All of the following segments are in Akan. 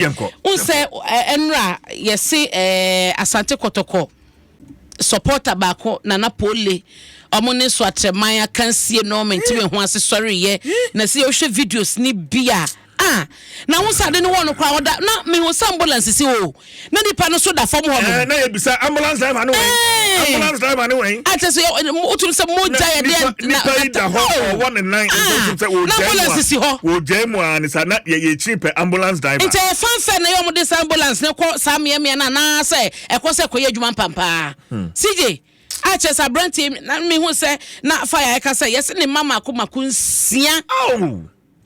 n sɛ ɛnora yɛse asante kɔtɔkɔ supporter baako nana pole ɔmo ne so atrɛman akansie no mente me ho ase sɔreyɛ na sɛ yɛwohwɛ videos ne bi a ah na ho sɛ ade no wɔ no koraa ɔda na mehu sɛ ambulance si hɔ o na nipa no so da fam hɔ no na yɛbisa ambulance driver ne wɔn ambulance driver ne wɔn akyɛ sɛ wotum sɛ mogya yɛdeɛ nipa yi da hɔ ɔwɔ ne nan nso nso sɛ wɔgyae mu a wɔgyae mu a ne saa na yɛyɛ akyiri pɛ ambulance driver. nti ɛyɛ fanfɛ na yɛ wɔn de saa ambulance no kɔ saa mmeammea no anaasɛ ɛkɔ sɛ ɛkɔyɛ adwuma mpampaa hmm. sigye akyɛ sɛ aberanteɛ na mehu sɛ na fa yɛ ɛka sɛ yɛse ne mma mako mako nsia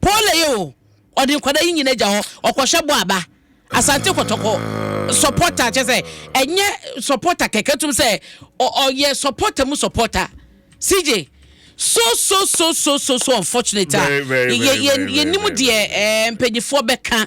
Pole yi o, ɔde nkwadaa yi nyina gya hɔ, ɔkɔhwɛ bɔ aba Asante Kɔtɔkɔ. Supporter kyɛ sɛ ɛnyɛ supporter kɛkɛ tum sɛ ɔyɛ supporter mu supporter. CJ so so so so so so unfortunate a yɛ yɛ yɛ nim deɛ ɛɛ mpanyinfoɔ bɛka.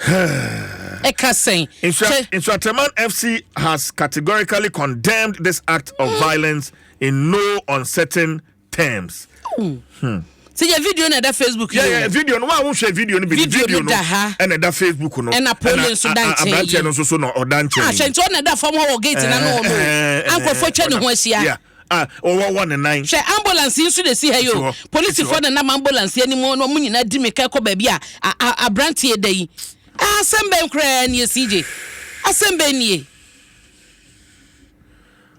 ɛka sɛn Nsuatreman FC has categorically condemned this act of hmm. violence in no uncertain terms. Hmm. hmm. sɛ yɛ video na ɛda facebook yi yɛ video no wa wo hwɛ video no bi video no da ha ɛna ɛda facebook no ɛna polo nso da nkyɛn yi aberanteɛ no nso so na ɔda nkyɛn yi ahwɛ nti ɔna ɛda fam hɔ wɔ gate na no wɔn o ankɔfo twɛ ne ho ahyia a ɔwɔwɔ ne nan. Hwɛ, ambulance yi nso na ɛsi ha yi o. Polisifoɔ na nam ambulance yi anim na wɔn nyinaa di mmirika kɔ baabi a aberanteɛ da yi. Asɛm bɛn koraa nie CJ? Asɛm bɛn nie?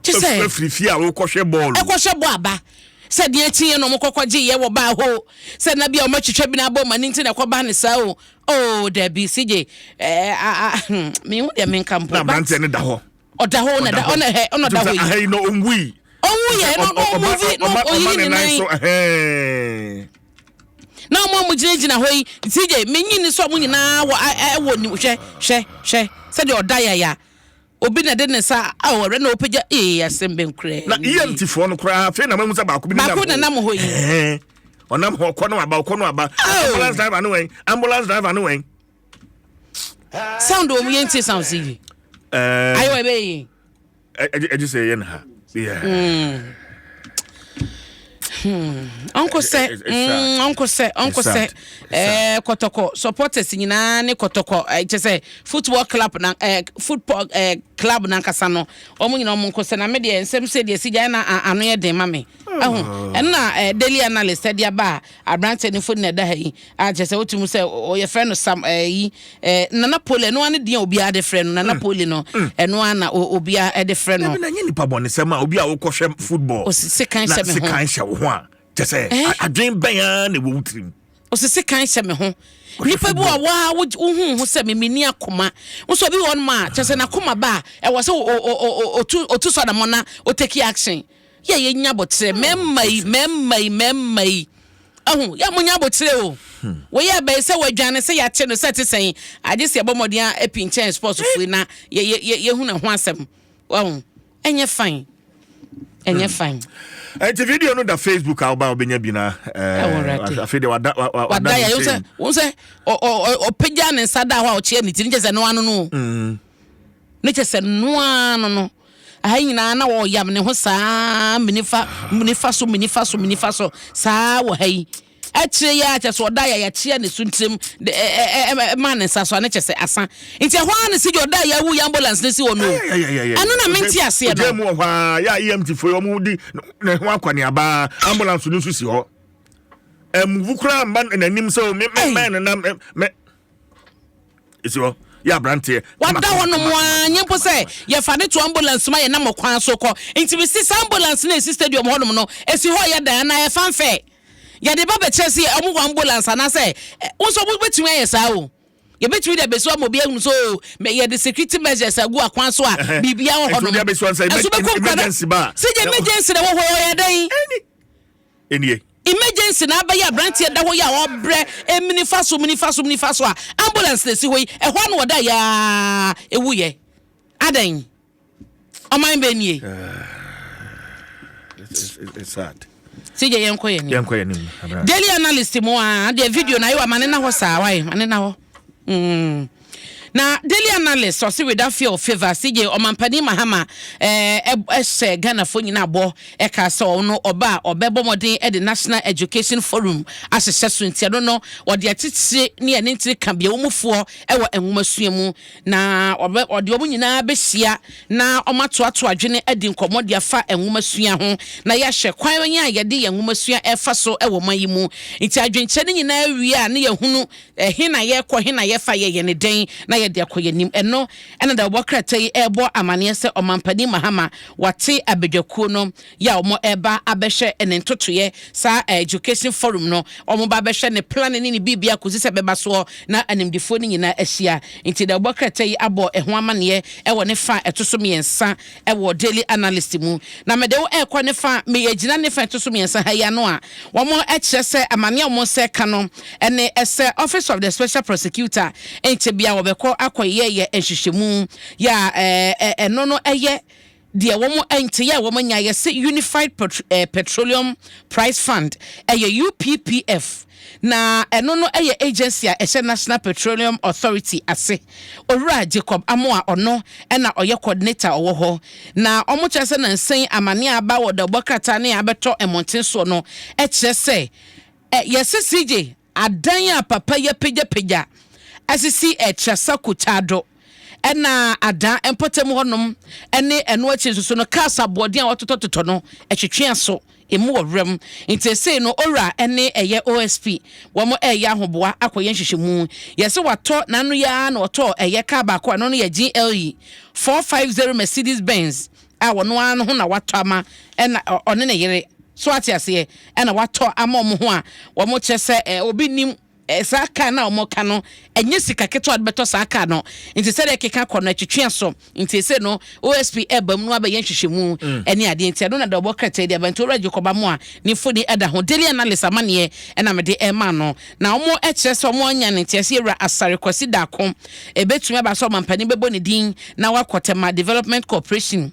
Te sɛ. Ɛfiri fie a wokɔhwɛ bɔɔl. Ɛkɔhwɛ bɔ aba. Sɛ deɛ akyi yɛ na wɔkɔkɔ gye yɛ wɔ baa hɔ o. Sɛ na bi a wɔatwitwa bi na abɔ ma ne nti na ɛkɔba ne saa o. Oh, dabi CJ. Ɛɛ, a, a, hmm, mehu deɛ menka mpo. Na aberanteɛ no da hɔ. ɔda hɔ na da hɔ na hɛ ɔna da hɔ yi. aha yi na ɔnwu yi. ɔnwu yɛ na ɔmu vi na ɔyi ne nan so. na ɔmo ɔmo gyinagyina hɔ yi ti gye menyi ne sɛ ɔmo nyinaa wɔ ɛwɔ ni hwɛ hwɛ hwɛ sɛdeɛ ɔda yaya obi na de ne sa awɔrɛ na ɔpɛgya ee asɛm bɛn koraa. na emt foɔ no koraa afei na mahu sɛ baako bi baako na nam hɔ yi. ɔnam hɔ kɔ no aba ɔkɔ no aba ambulance driver no wɛn ambulance driver no wɛn. sound wɔn yɛn ti sound si yi ayi wɔ ebe yi. ɛdi sɛ yɛn ha. ɔnkɔ sɛ ɔnkɔ sɛ ɔnkɔ sɛ ɛɛ kɔtɔkɔ supporters nyinaa ne kɔtɔkɔ ɛkyɛ sɛ football club na ɛɛ eh, football ɛɛ eh, club nankasa no wɔn nyinaa wɔn nkɔ sɛ na mi deɛ nsɛm sɛ deɛ si gya na ano yɛ den ma mi ɛho ɛna ɛɛ daily analyst ɛde aba a Aberanteɛ no mfoni na ɛda ha yi a kyerɛ sɛ wote mu sɛ yɛfrɛ no sam ɛyi eh, eh, nana poli ɛno ara ne din a obiara de frɛ no nana mm. poli no mm. ɛno ara na obiara de frɛ no. ɛbi na nye nipa bɔnisɛm a obi a wokɔhwɛ football na sekan hyɛ wo ho a kyɛ sɛ eh? adwene bɛn ara na ɛwɔ wo tirim. osisi kan hyɛ me ho nipa bi a waa wohu ho sɛ memeni akoma nso obi wɔn mu a kyɛ sɛ n'akoma ba a ɛwɔ sɛ otu otu sɔdamɔ na oteki action. yɛ yɛ nya abotire hmm. mɛmma yi mɛmma yi mɛmma yi ɛho yɛ mo nya abotire o hmm. wɔyɛ abɛyi sɛ wɔadwane sɛ yɛakye no sɛ te sɛn agye sɛ ɛbɔ mmɔden a ɛpi nkyɛn sports eh. fui na yɛ yɛ yɛhu ne ho asɛm ɛho ɛnyɛ fine ɛnyɛ hmm. fine. nti eh, video no da facebook a woba wobɛnya bi na eh, afei de wada yɛ wo sɛ ɔpagya ne nsa da hɔ a ɔkyeɛ ne tiri nkyɛ sɛ no ano no Ne kyɛ sɛ no ara no no, aha nyinaa na ɔyam ne ho saa menifa menifa so menifa so menifa so saa wɔ ha yi akyire yɛ akyɛ so ɔda yɛ yɛakyeɛ ne so ntirim ma ne nsa so ne kyɛ sɛ asa nti ɛhɔ ara ne si gya ɔda yɛ awu yɛ ambulance ne si hɔ no ɛno na mente aseɛ no mu wɔ hɔ a yɛ a EMT foɔ yɛ ɔmo di ne ho akɔneaba ambulance no nso si hɔ ɛmuvu koraa mba n'anim sɛ o me me mɛn no na me ɛsi hɔ yɛ aberanteɛ wada hɔ nom a nyɛ mpo sɛ yɛfa ne to ambulance ma yɛnam ɔkwan so kɔ nti mese saa ambulance no ɛsi stadium hɔ nom no ɛsi hɔ yɛ dan anaa ɛfa mfɛ yɛde ba bɛkyerɛ sɛ ɔmo wɔ ambulance anaasɛ wo nso wobɛtumi ayɛ saa o yɛbɛtumi de abɛsua ma obi ahunu so oh, yɛde security measures agu akwan so a biribia wɔ hɔ nom ɛso bɛkɔ nkwa no sɛ gya emergency na wɔ hɔ yɛ dɛn nie. Emergency na abɛyɛ abranteɛ da hɔ yi a ɔbrɛ ɛmu nifa so mu nifa so mu nifa so a ambulance na ɛsi hɔ yi ɛhɔ a na ɔda yɛ a ɛwu yɛ adɛn ɔman bɛ nie. sɛ gya yɛnkɔ yɛ ne daily analyst mu a deɛ video na ayɛ wɔ ma ne na hɔ saa wae ma ne na hɔ. Mm. Na Daily Analyst ɔse weda fear of favour ase gye ɔmampanin Mahama ɛɛ hyɛ Ghanafoɔ nyinaa bɔ ɛkaa sɛ ɔno ɔba a ɔbɛbɔ mmɔden de National Education Forum ahyehyɛ so nti ɛno no ɔde atitire ne ɛne ntire ka biawomufoɔ wɔ nwomasua mu na ɔde wɔn nyinaa bɛhyia na wɔatoato adwene adi nkɔmmɔ de afa nwomasua ho na yɛahwɛ kwan a yɛde yɛn nwomasua ɛfa so wɔ man yi mu nti adwenkyerɛ no nyinaa wie a ne yɛhunu Ɛhe na yɛrekɔ? He na yɛfa? Yɛyɛ no dɛn na yɛde akɔ? Yɛnnim. Ɛno na deɛ ɔbɔ krataa yi rebɔ amaneɛ sɛ Ɔmampanin Mahama wate abadwakuo no yɛ a wɔreba abɛhwɛ ne ntotoeɛ saa Education Forum no. Wɔba abɛhwɛ ne plane ne ne biribia kɔsi sɛ ɛbɛba soɔ na animdefoɔ no nyinaa ahyia. Nti deɛ ɔbɔ krataa yi abɔ ɛho amaneɛ wɔ ne fa a ɛto so mmiɛnsa wɔ Daily Analyst mu. Na mede wo rekɔ ne fa, meyɛ gyina ne fa ɛto so mmiɛnsa ha yi ano a, wɔkyerɛ sɛ amaneɛ a wɔn nsa reka no ne sɛ Office of the Special Prosecutor nkyɛ biara wɔbɛkɔ akɔyɛyɛ nhwehwɛmu yɛ a ɛno no yɛ deɛ wɔn nkyɛyɛ a wɔn anya yɛ sɛ Unified Petroleum Price Fund ɛyɛ UPPF Na ɛno no yɛ agency a ɛhyɛ National Petroleum Authority ase. Owura Jacob Amoah ɔno na ɔyɛ coordinator a ɔwɔ hɔ. Na wɔkyerɛ sɛ nansa yi amane a aba wɔ dawubɔ krataa no a abɛtɔ mmɔnten soɔ no kyerɛ sɛ ɛ yɛse CJ adan a papa yi apagyapagya asisi ɛ Trasa Kutado. ɛna ada mpɔtam hɔnom ne ɛno akyi nso so no cars aboɔden a wɔtotɔtotɔ no ɛtwetwe aso emu wɔ wuram nti esei no owura ne ɛyɛ osp wɔn ɛyɛ ahoboa akɔyɛ nhwehwɛmu yɛsɛ watɔ n'ano yi ara na ɔtɔ ɛyɛ kaa baako a ɛno no yɛ GLE 450 Mercedes Benz a wɔn ara no ho na watɔ ama ɛna ɔne ne yere so ate aseɛ ɛna watɔ ama wɔn ho a wɔn kyerɛ sɛ obi nim Saa kar no a wɔka no, ɛnyɛ sika ketewa a wɔde bɛtɔ saa kar no. Nti sɛdeɛ ɛkeka kɔ no, ɛtwetwe aso. Nti seesei no, OSP ɛreba mu na wabɛyɛ nhwehwɛmu ne adeɛ. Nti ɛno na deɛ ɔbɔ krataa yi de aba. Nti Owura Jacob Amoah ne mfoni da ho. Daily Analyst amaneɛ na mede rema no. Na wɔkyerɛ sɛ wɔanya no nteaseɛ Wura Asare Kwasi Darko. Ɛbɛtumi aba sɛ ɔmampanin bɛbɔ ne din na wakɔ Tema Development Corporation.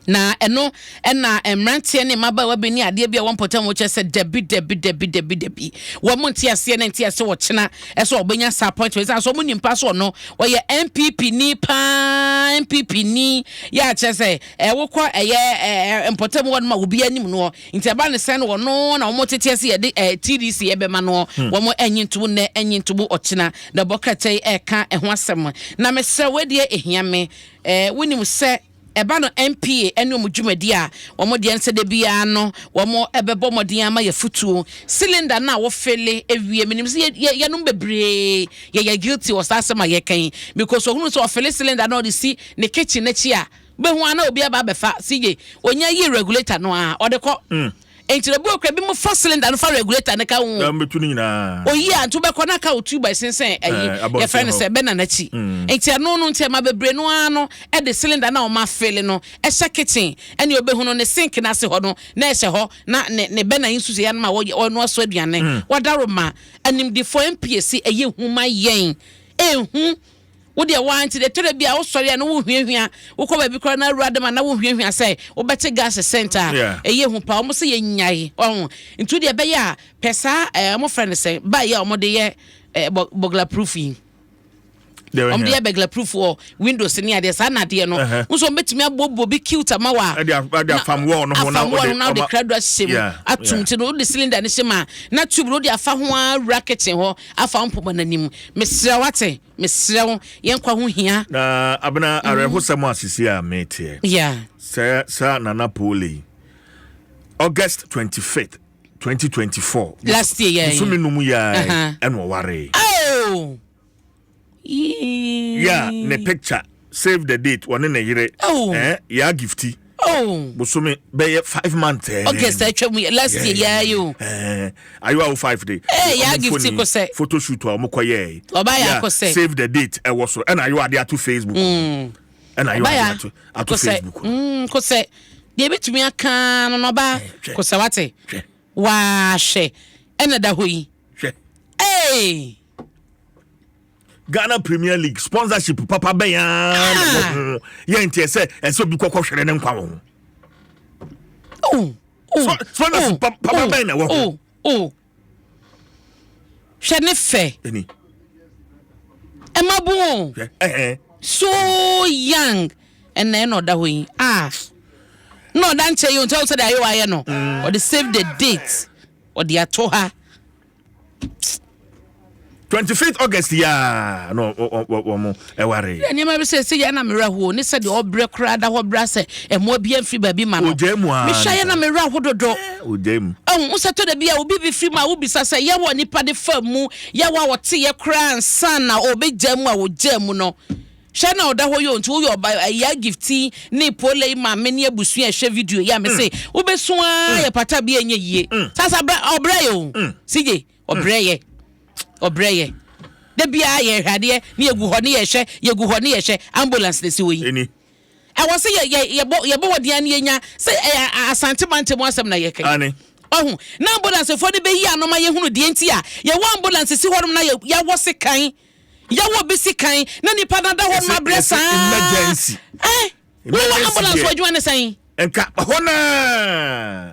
Na ɛno na mmeranteɛ ne mmabaawa bi ne adeɛ bi a wɔn mpɔtam wɔ kyɛ sɛ dabi dabi dabi dabi dabi wɔn nte aseɛ na nte aseɛ wɔkyena ɛsɛ wɔbɛnya saa appointment sɛ asɔ wɔn nim pa so ɔno wɔyɛ npp ni paa npp ni yɛ akyɛ sɛ ɛwokɔ ɛyɛ ɛɛ mpɔtam wɔn ma obi anim noɔ nti ɛba ne sɛn no wɔn na wɔn tete ase yɛde ɛɛ tdc ɛbɛma no hmm. wɔn ɛnyi ntobo nnɛ ɛnyi ntobo ɔkyena na bɔkɛtɛ ɛka ɛho asɛm na mesrɛ wɔdeɛ ehia me Eh, wonim sɛ ɛba no NPA ɛne wɔn dwumadi a wɔn deɛ nsɛ da biara no wɔn ɛbɛbɔ mmɔden ama yɛ futuo cylinder no a wofele ewie menim sɛ yɛ yɛnom bebree yɛyɛ guilty wɔ saa asɛm a yɛka yi because ohunu sɛ ɔfele cylinder no ɔde si ne kitchen n'akyi a bɛhu ana obi aba abɛfa sigye onya yi regulator no a ɔde kɔ. Mm. Enti no bi wɔ kura bi mu fa cylinder no fa regulator no ka ho. Na mbetu ne nyinaa. Oyi a nti wobɛkɔ na ka wo tube ɛsensɛn ayi yɛfrɛ no sɛ bɛna n'akyi. Enti ɛno no nti ɛma bebree no ara no ɛde cylinder no a wɔn afele no ɛhyɛ kitchen ɛne obehu no ne sink no ase hɔ no na ɛhyɛ hɔ na ne ne bɛna yi nso sɛ yɛn ma ɔnoa so aduane. Wadaworo ma animdefo ɛmpiɛ se ɛyɛ hu ma yɛn ɛnhu Wo deɛ waa nti de ɛtɔ da bi a wosɔre a na wohuahua wokɔ baabi koraa na awura dɛm a na wohuahua sɛ wobɛte gas scent a ɛyɛ hu paa wɔn sɛ yɛnyae ɔho nti deɛ ɛbɛyɛ a pɛ saa ɛɛ wɔn frɛ no sɛ baa yɛ a wɔde yɛ ɛɛ bɔ bɔgla proof yi wɔn de yɛ bɛgla proof wɔ windows ne adeɛ saa nadeɛ no nso wɔn bɛtumi aboɔboɔ bi cute ama wa afam wɔn no ho na wɔde kra do ahyɛ mu atum ti no wɔde cylinder no hyɛ mu a na tube no wɔde afa ho ara wura kitchen hɔ. afa wo mpoma no anim. Mesrɛ wo, ate? Mesrɛ wo, yɛn nkwa ho hia. Na, Abena, mm-hmm. awerɛhosɛm a sisi a meteɛ. Yeah. Sɛ saa Nana Pole yi, August 25th, 2024. Last year, yeah. Bosome no mu yɛ ɛna ɔwaree. Oh! yɛ a ne picture save the date wɔne ne yere oh. eh, yɛ agifti oh. bosome bɛyɛ five months eh. august atwa mu last year yɛa yi o eh, ayewa wo five de eh, yɛ agifti kosɛ photo shoot a wɔkɔ yɛ ɔba yɛ akosɛ save the date ɛwɔ so ɛna ayewa de ato facebook mm. ɛna ayewa de ato ato facebook mm, kosɛ deɛ ebitumi aka no na ɔba kosɛ wate Waa hwɛ ɛna da hɔ yi. Hwɛ. Hey. Ghana Premier League sponsorship papa bɛn ara na ah. wɔ ho yɛ nteɛ sɛ ɛsɛ obi kɔkɔ hwere ne nkwa wɔ ho sponsorship papa bɛn na wɔ ho hwɛ ne fɛ ɛma bon so young ɛnna ɛna ɔda hɔ yi ah na ɔda nkyɛn yi o nti ɔwɔ sɛ de ayɛ wayɛ no mm. ɔde save the date ɔde ato ha. twenty fifth august yaa na wɔn ɛware. yɛ nneɛma bi sɛ ɛsɛ yɛn na mmerɛ ho ne sɛ deɛ ɔbrɛ koraa da hɔ brɛ sɛ ɛmoa bi mfiri baabi ma no ɔgya mu aa mehyɛ yɛn na mmerɛ ho dodo ɔgya mu ɛhu wo sɛ tɔ da bi a obi bi firi mu a wobisa sɛ yɛwɔ nipa de fa mu yɛwɔ a wɔte yɛ koraa nsa na ɔbɛgya mu a wɔgya mu no. Hwɛ na ɔda hɔ yi o nti woyɛ ɔba eh, ya gifti ne polei maame ne abusua ɛhwɛ video yi a mese mm. wobɛso a mm. yɛ pata bi ɛnyɛ yie mm. sasa ɔbrɛ yɛ o sigye ɔbrɛ yɛ ɔbrɛ yɛ da biara yɛhwɛ adeɛ ne yɛgu hɔ ne yɛhwɛ yɛgu hɔ ne yɛhwɛ ambulance na si wɔ yi ɛwɔ sɛ yɛbɔ wɔden a ne yɛnya sɛ ɛyɛ asante mante mu asɛm na yɛkɛ ɔho na ambulancefoɔ no bɛyi anoma yɛhunu deɛ nti a yɛwɔ ambulance si hɔnom na yɛwɔ sekan Yaw a obesi kan na nipa no ada hɔ nom abrɛ saa. Emergency. Eh, wo wɔ ambulance wɔ adwuma ne sɛn? Nka hɔ naa.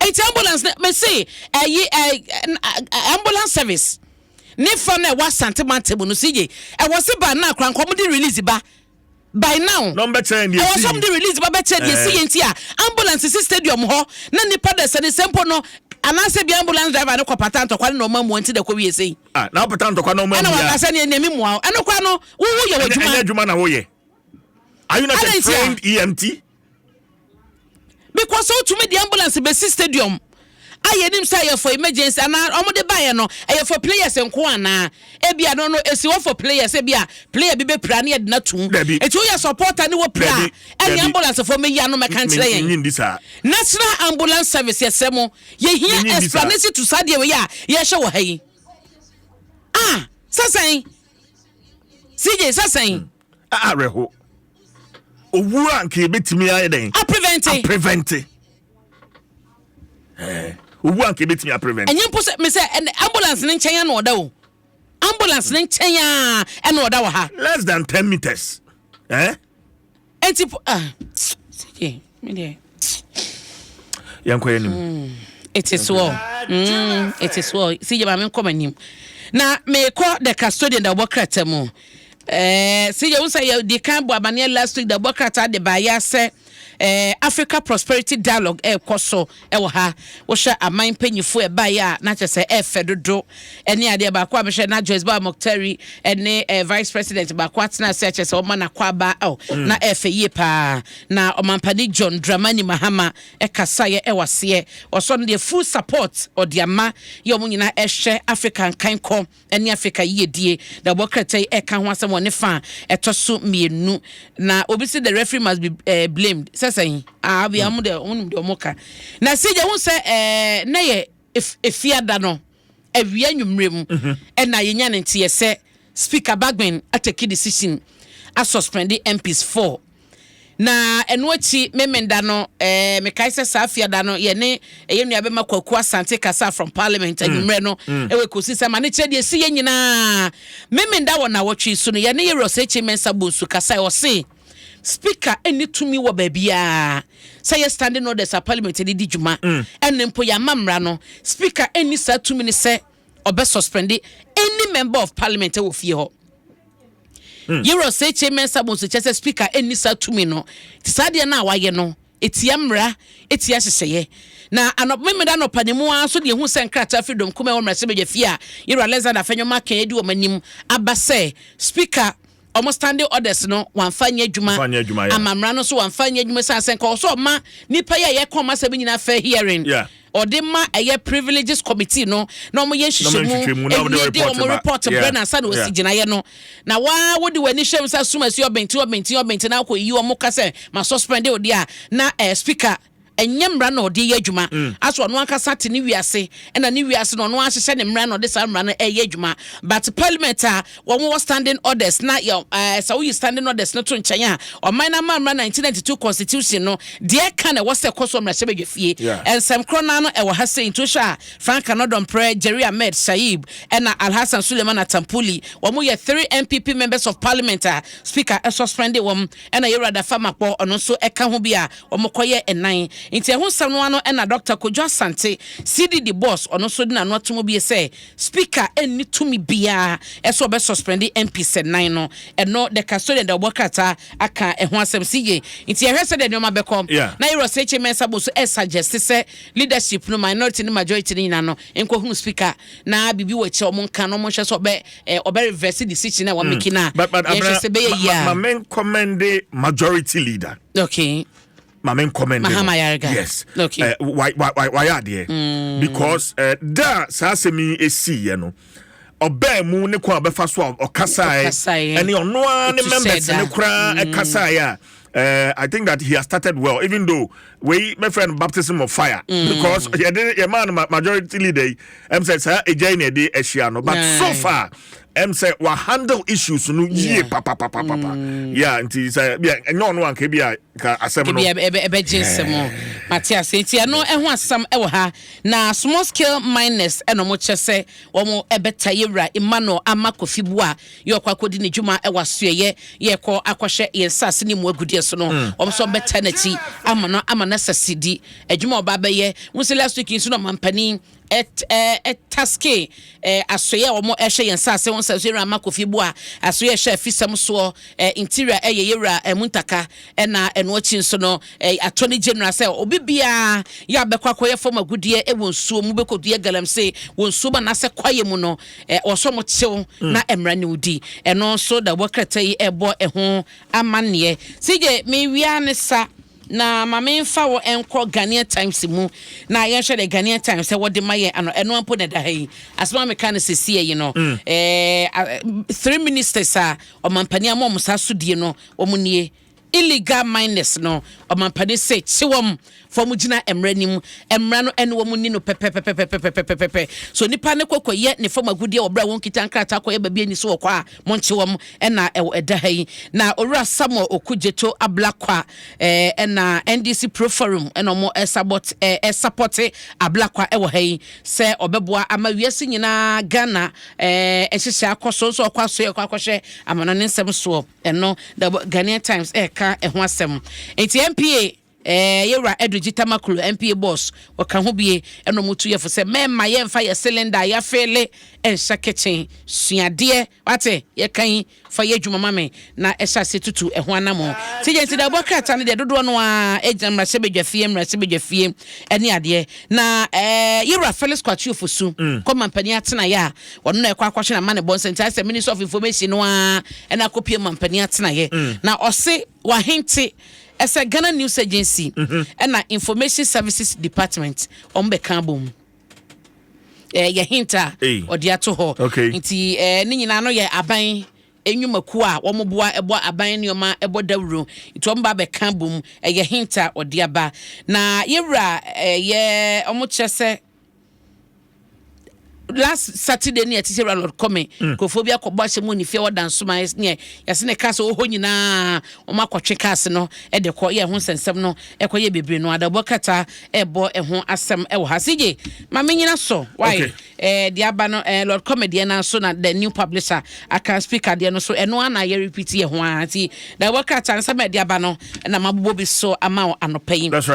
Eti ambulance na me se ɛyi eh, eh, eh, ambulance service ne fa na ɛwɔ asante mante mu no si ye ɛwɔ se ba na akora nkɔm de release ba. By now, ɛwɔ sɛ wɔde release ba bɛkyerɛ deɛ ɛsi yɛ nti a ambulance si stadium hɔ na nnipa da sɛnesɛ mpo no anaasɛ bia ambulance driver no kɔpata ntɔkwa no na ɔma mmoa nti na ɛkɔ wie sei. Ah, na ɔpata ntɔkwa na ɔma mmoa. Ɛna wɔka sɛ neɛ neɛ mmoa wo. Ɛno koraa no, wo woyɛ w'adwuma. Ɛnyɛ adwuma na woyɛ. Are you not a trained EMT? because sɛ wotumi de ambulance bɛsi stadium a yɛnim sɛ ɛyɛ for emergency anaa wɔde baeɛ no ɛyɛ for players nko anaa ebia no no esi hɔ for players ebia player bi bɛpira ne yɛde no atum Dabi. eti woyɛ supporter ne wɔpira Dabi, a ɛne dabi. ambulance fo mɛyi ano mɛka nkyerɛ Menyi yɛn ndi saa. national ambulance service yɛsrɛ mo Menyi yɛhia ndi saa. explanation to saa deɛ wei a yɛhyɛ wɔ ha yi ah sɛsɛn cj sɛsɛn awerɛho owu a nka yɛbɛtumi ayɛ dɛn aprevente eh, owu a nka yɛbɛtumi aprevente ɛnyɛ mpo sɛ mesɛ ambulance no nkyɛn ana ɔda o ambulance no nkyɛn a ɛna ɔda wɔ ha less than ten meters eh? ɛnti uh, ah, Me deɛ. Yɛnkɔ yɛn nim. Hmm, it is well. Mm, it is well. Si yɛ maame nkɔ m'anim. Na mekɔ the custodian da ɔbɔ krataa mu. Eh, si yɛ wusa yɛ di kan bɔ abaneɛ last week da ɔbɔ krataa de baayɛ asɛ eh, Africa Prosperity Dialogue ɛkɔ eh, so. wɔ ha. Wohwɛ aman mpanyinfo a ɛbaeɛ a na kyerɛ sɛ ɛfɛ dodo ne adeɛ. Baako a mehwɛ na Joyce Bawa Mokhtari ne eh, vice president baako atena ase akyerɛ sɛ wɔma n'akwaaba oh, mm. na ɛfɛ yie paa. Na ɔmampani John Dramani Mahama ɛkasaeɛ ɛwɔ aseɛ. Ɔsɔ no deɛ full support ɔde ama yɛ wɔn nyinaa ɛhwɛ Africa nkankɔ. ne Afrika yiyedie na ɛbɔ krata yi ɛka ho asɛm wɔ ne fa a ɛtɔ so mmienu na obi si the referee must be uh, blamed sɛ sɛn ah bia wɔn de wɔn nim de wɔn ka na sɛ yɛn ho sɛ ɛɛ na yɛ efiada no awia nwumire mu mhm. ɛna yɛn nya ne nteɛ sɛ speaker Bagbin atake decision asuspend MPs four. Na ɛno akyi Memenda no, eh, mekae sɛ saa fiada no, yɛne ɛyɛ nua bɛma Kwaku Asante kasa from parliament mm. anwummerɛ no, mm. ɛwɔ ɛkɔsi sɛ ma ne kyerɛ deɛ ɛsi yɛ nyinaa. Memenda wɔ nawɔtwe so no, yɛne yɛ Ross H. Mensah Bonsu kasa, ɛwɔ se, speaker ɛnni tumi wɔ baabiara sɛ yɛ standing orders a parliament de di dwuma mm. ɛne mpo yɛama mmara no speaker ɛnni saa tumi ne sɛ ɔbɛ suspende any member of parliament ɛwɔ fie hɔ hmm. yɛwura sɛkyɛ mɛnsa bɔ nso kyɛ sɛ speaker ɛnni saa tumi no te saa deɛ no a wayɛ no ɛtia mmara ɛtia hyehyɛeɛ na anɔpemeda anɔpa ne mu ara nso deɛ ɛhu sɛ nkrataa firi dɔm kuma ɛwɔ mmerɛsɛ badwa fie a yɛwura alexander fɛnyɔma kɛn adi wɔn anim aba sɛ speaker wɔn standing orders no wɔamfa nyɛ adwuma Wɔmfa nyɛ adwuma, yeah. ama mmara no nso wɔamfa nyɛ adwuma san sɛ nka ɔsɛ ɔma nipa yi a yɛka wɔn asɛm nyinaa fair hearing Yeah. ɔde ma ɛyɛ privileges committee no na wɔn yɛ Na wɔyɛ nhwehwɛmu nhwehwɛmu, na wɔde ɛwie de report wɔn ma. report Yeah, brɛ na ansa na wɔsi yeah. gyinaeɛ no na waa wode w'ani hyɛ mu sɛ asum asi ɔbɛnti ɔbɛnti ɔbɛnti na akɔ yi wɔn ka sɛ ma suspend wo deɛ a na eh, speaker Ɛnyɛ mmara na ɔde yɛ adwuma. Aso ɔno ankasa te ne wiase ɛna ne wiase na ɔno ahyehyɛ ne mmara na ɔde saa mmara no ɛyɛ adwuma. But parliament a wɔn wɔ standing orders na yɛ ɛɛ sɛ woyi standing orders no to nkyɛn a ɔman no ama mmara 1992 constitution no deɛ ɛka na ɛwɔ sɛ ɛkɔ so mmarahyɛ badwa fie. Nsɛm korɔ naa no ɛwɔ ha sei nti wohwɛ a Frank Anodɔmprɛ, Jerry Ahmed Shaib ɛna Alhassan Suleiman Attampuli wɔn yɛ three NPP members of parliament a speaker ɛsuspendee wɔn ɛna Yɛwura Dafa Makpɔ ɔno nso ɛka ho bi a wɔkɔyɛ nnan. Nti ɛho nsɛm no ano na Dɔkta Kojo Asante, CDD boss, ɔno nso de n'ano atom bio sɛ Speaker nni tumi biara sɛ ɔbɛ suspɛnde MPs nnan no. Ɛno The Custodian deɛ ɔbɔ krataa aka ɛho asɛm. CJ, nti yɛhwɛ sɛdeɛ nneɛma bɛkɔ na Yere Ɔsɛkye Mensah bɔ so suggest sɛ leadership no, minority ne majority no nyinaa no, nkɔhunu Speaker na biribi wɔ akyire a wɔnka na wɔnhwɛ sɛ ɔbɛ ɔbɛ reverse decision a wɔamake no a. Yɛnhwɛ sɛ ɛbɛyɛ yie a. Ma menkɔmmɛnde majority leader. okay maame nkɔmɛnde no mahama yarega yes okay eh, wayɛ adeɛ mm. because eh, da a saa asɛm yi esiiɛ no ɔbaa mu ne kwan a ɔbɛfa so a ɔkasaeɛ ɛne ɔno ara ne members ne koraa mm. ɛkasaeɛ a uh, I think that he has started well, even though we my friend baptism of fire mm. because yeah, the, yeah, man majority leader I'm saying sir a journey day Asiano, but nice. so far ɛm sɛ wa handle issues no yie papapapapa yɛ a nti sɛ bia ɛnyɛ ɔno anka bi a ka asɛm no ɛbɛgye nsɛm mate ase nti ɛno ɛho asɛm ɛwɔ ha na small scale miners ɛna ɔmo kyɛ sɛ wɔn ɛbɛta yɛwura emmanuel ama kofi bu a yɛ ɔkɔ akɔdi ne dwuma ɛwɔ asoɛyɛ yɛ kɔ akɔhwɛ yɛn saase ne mu agudeɛ so no mm. wɔn nso bɛta n'akyi ama no ama no asase di adwuma ɔba bɛyɛ wusi last week nso na ɔmampanin taske asoeɛ a wɔn ɛhwɛ yɛn saase ho nsɛm so yɛwura ama kofi bu a asoeɛ ɛhwɛ afisɛm soɔ interior ɛyɛ yɛwura ɛmu ntaka ɛna ɛno akyi nso no atɔ ne general sɛ obi biara yɛ abɛkɔ akɔyɛ fam agudeɛ ɛwɔ nsuo mu bɛkɔ dua galamsey wɔ nsuo mu anaasɛ kwaeɛ mu no wɔsɔ mo kyew mm. na ɛmra ne wodi ɛno nso da wɔkrata yi ɛbɔ ɛho amanneɛ sɛ gye mewia ne sa Na ma menfa wo nkɔ Ghanaian Times mu na yɛnhwɛ deɛ Ghanaian Times sɛ wɔde ma yɛn ano. Ɛno mpo na ɛda ha yi. Asɛm a meka no sesie yi no, ɛɛ three ministers a ɔmampanin ama wɔn saa sodie no, wɔn nie. Illegal miners no, ɔmampanin se kye wɔn fa wɔn gyina mmara no mu. Mmara no ɛne wɔn ni no pɛpɛpɛpɛpɛpɛpɛpɛpɛpɛ. So nipa no kɔ kɔyɛ ne fam agudeɛ wɔ berɛ a wɔnkita nkrataa kɔyɛ baabi ani so wɔ kɔ a, Monkye wɔn na ɛwɔ ɛda ha yi. Na Owura Samuel Oku Gyeto Ablakwa eh, na NDC Pro Forum na wɔn ɛsabɔt eh, ɛsapɔte Ablakwa ɛwɔ ha yi sɛ ɔbɛboa ama wiase nyinaa Ghana eh, ɛhyehyɛ akɔ so nso ɔkɔ aso ɛkɔ akɔhwɛ amanɔne nsɛm soɔ ɛno The Ghanaian Times ɛka ɛho asɛm nti MPA Ɛɛ yɛ wura Edwin Gyitama Kuro NPA boss ɔka ho bie ɛna ɔmo tu yɛ fo sɛ mɛɛma yɛ nfa yɛ cylinder a yɛ afeele nhyɛ kitchen suadeɛ wate yɛ ka yi fa yɛ adwuma ma me na ɛhyɛ aseɛ tutu ɛho anamɔ ti yɛ nti da ɔbɔ krataa no deɛ dodoɔ no a ɛgyina mmarahyɛ badwa fie mmarahyɛ badwa fie ɛne adeɛ na ɛɛ yɛ wura Felix Kwatio Fosu mm. kɔ mampanin atena yɛ a ɔno na ɛkɔ akɔhwɛ na ma ne bɔ nsɛnkyɛ asɛ minister of information no a ɛna akɔpie mampanin atena yɛ mm. na ɔse Wahente ɛsɛ Ghana News Agency ɛna Information Services Department wɔn bɛ ka abom ɛɛ yɛ hint a ɔde ato hɔ nti ɛɛ ne nyinaa no yɛ aban enyumakuo a wɔn boa ɛbɔ aban nneɛma ɛbɔ dawuro nti wɔn ba bɛ ka abom ɛyɛ hint a ɔde aba na yɛwura ɛyɛ wɔn kyerɛ sɛ. last saturday ne yɛte sɛ wura lord kɔme mm. nkurɔfoɔ bi akɔbɔ ahyɛ mu ne fie wɔ dansoma ne yɛse ne cars wɔ hɔ nyinaa wɔn akɔtwe cars no de kɔ yɛ ho nsɛnsɛm no ɛkɔ yɛ bebree no adabɔ kata ɛbɔ ɛho asɛm ɛwɔ ha sigye ma menyina so wae okay. eh, deɛ aba no eh, lord kɔme deɛ no so na the new publisher aka speaker deɛ no so ɛno ana yɛ repeat yɛ ho a nti adabɔ kata nsɛm ɛde aba no na mabobɔ bi so ama anɔpa yi